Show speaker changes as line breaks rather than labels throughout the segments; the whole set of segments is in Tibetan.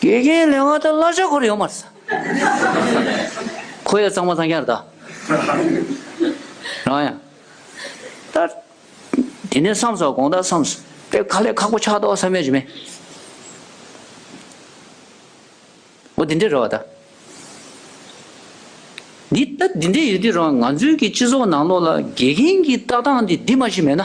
དགེ་རྒན་ལས་སྔགས་དང་བླ་ཆོས་འཁོར་ཡོང་མར་ཟ། ཁོ་ཡང་གཙང་མ་ཚང་ཁྱར་བལྟ། རང་ཡང། ད། དེ་ནས་བསམ་སོང་དགོངས་དག་བསམ། དེ་ཁ་ལས་ཁག་པོ་ཆགས་ཏོག་ས་མེད་ཅིག་མེད། འོ་དེ་འདྲས་རོགས་ད། འདི་ད་དེ་འདྲས་ཡོད་དུས་རང་ང་ཚོའི་གི་སྤྱི་ཚོགས་ནང་ལོགས་ལ་དགེ་རྒན་གི་ལྟ་སྟངས་འདི་འདི་མ་ཞིག་མེད་ན།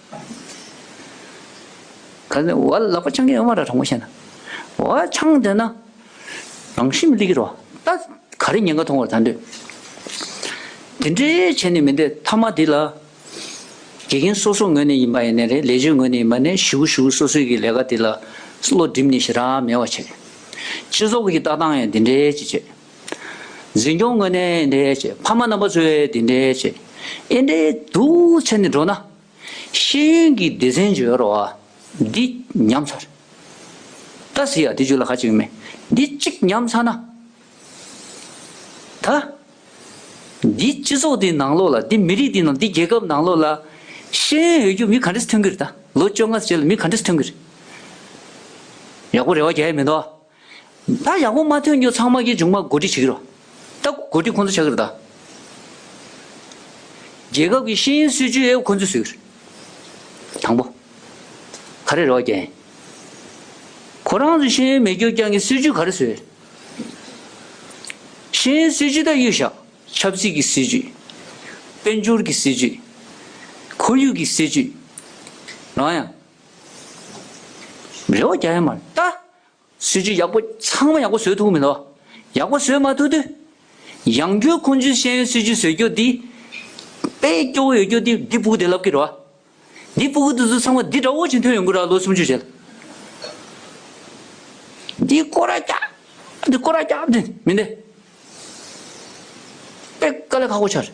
གང་ནས་བ་ལག་པ་འཆང་མཁན་ཡོད་མ་རེད་དྲང་པོ་བཤད་ན། བ་འཆང་འདོད་ན་རང་ཤི་མི་ལི་གི་རོ། ད་ག་རེ་ཉེན་ཁ་མཐོང་བར་ད་འདོད། དེ་འདྲའི་བྱས་ནས་མི་འདོད་མཐའ་མ་དེ་ལ། དགེ་རྒན་སོ་སོ་ངོས་ནས་ཡིན་པ་ཡིན་ནས་རེད་ལས་བྱེད་ངོས་ནས་ཡིན་པ་ནས་ཞུ་གི་ཞུ་གི་སོ་སོའི་གི་ལས་ཀ་དེ་ལ་བློ་བསྒྲིམས་ནས་ཞེ་དྲག་མེད་བ་བྱེད། སྤྱི་ཚོགས་ཀྱི་ལྟ་སྟངས་ཡང་དེ་འདྲའི་ཅིག་བྱེད། འཛིན་སྐྱོང་དངོས་གནས་འདྲེ་བྱེད། ཕ་མ་རྣམ་པ་ཚོའི་དེ་འདྲེ་བྱེད། ཨེ་འདྲེ་དུ་ཚེ་ནི་འགྲོ་ན། ཤེས་ཡོན་གྱི་སྡེ་ཚན་བརྗོད་རོགས་ཨ། འདི་ཉམས་ཚར། ད་ཟེར་ཡ་དེ་བརྗོད་ལ་ཁ་ཅིག་མེད། འདི་གཅིག་ཉམས་ཚར་ན། ད། འདི་སྤྱི་ཚོགས་འདི་ནང་ལོགས་ལ་འདི་མི་རིགས་འདི་ནང་འདི་རྒྱལ་ཁབ་ནང་ལོགས་ལ། ཤེས་ཡོན་ཡོད་རྒྱུ་མི་ག་འདྲེས་ཐོན་གྱིར་ད་ལོ་བཅོ་ལྔ་བྱས་ལ་མི་ག་འདྲེས་ཐོན་གྱིར། ཡག་པོ་རེ་བ་རྒྱལ་ཡས་མེད་འདུག་ཨ། ད་ཡག་པོ་མ་ཐོན་རྒྱུ་ཚང་མ་གི་ཅུང་མ་གོ་སྒྲིག་བྱེད་ཀྱི་རོ། ད་གོ་སྒྲིག་ཁོང་ཚོ་བྱ་གི་རེད་ད། རྒྱལ་ཁབ་ཀྱི་ཤེས་ཡོན་སྲིད་བྱུས་ཡོད་ཁོང་ཚོས་བཟོས་ཀྱི་རེད། དང་པོ། ག་རེ་རེད་བ་རྒྱལ། ཁོ་རང་ཚོས་ཤེས་ཡོན་མི་སྐྱོ་རྐྱང་གི་སྲིད་བྱུས་ག་རེ་བཟོས། ཤེས་ཡོན་སྲིད་བྱུས་ད་གཡུག་བཞག་ཆབ་སྲིད་ཀྱི་སྲིད་བྱུས། དཔལ་འབྱོར་གྱི་སྲིད་བྱུས། ཁོར་ཡུག་གི་སྲིད་བྱུས། རང་ཡང། རེད་བ་རྒྱལ་ཡ་མ་རེད་ད། སྲོལ་རྒྱུན་ཡག་པོ་ཚང་མ་ཡག་པོ་བཟོས་ཐུབ་མི་ཐུབ། ཡག་པོ་བཟོས་མ་ཐུབ་དུས། ཡང་སྒྱུར་ཁུངས་འཇུག་ཤེས་ཡོན་སྲོལ་རྒྱུན་བཟོས་རྒྱུ་འདི། དཔེ་སྐྱོ་བོ་ཡོད་རྒྱུ་འདི་འདི་སྤུ་གུ་དེ་ལབ་ཀི་རོ། འདི་སྤུ་གུ་དེ་ཚོ་ཚང་མ་འདི་འདྲ་བོ་ཅིག་འཐོན་ཡོང་གི་ར་ལོ་སུམ་ཅུ་བྱས། འདི་ཀོ་ར་སྐྱ། འདི་ཀོ་ར་སྐྱ་འདི་མི་འདི། དཔེ་དཀའ་ལས་ཁག་པོ་ཆགས་རེད།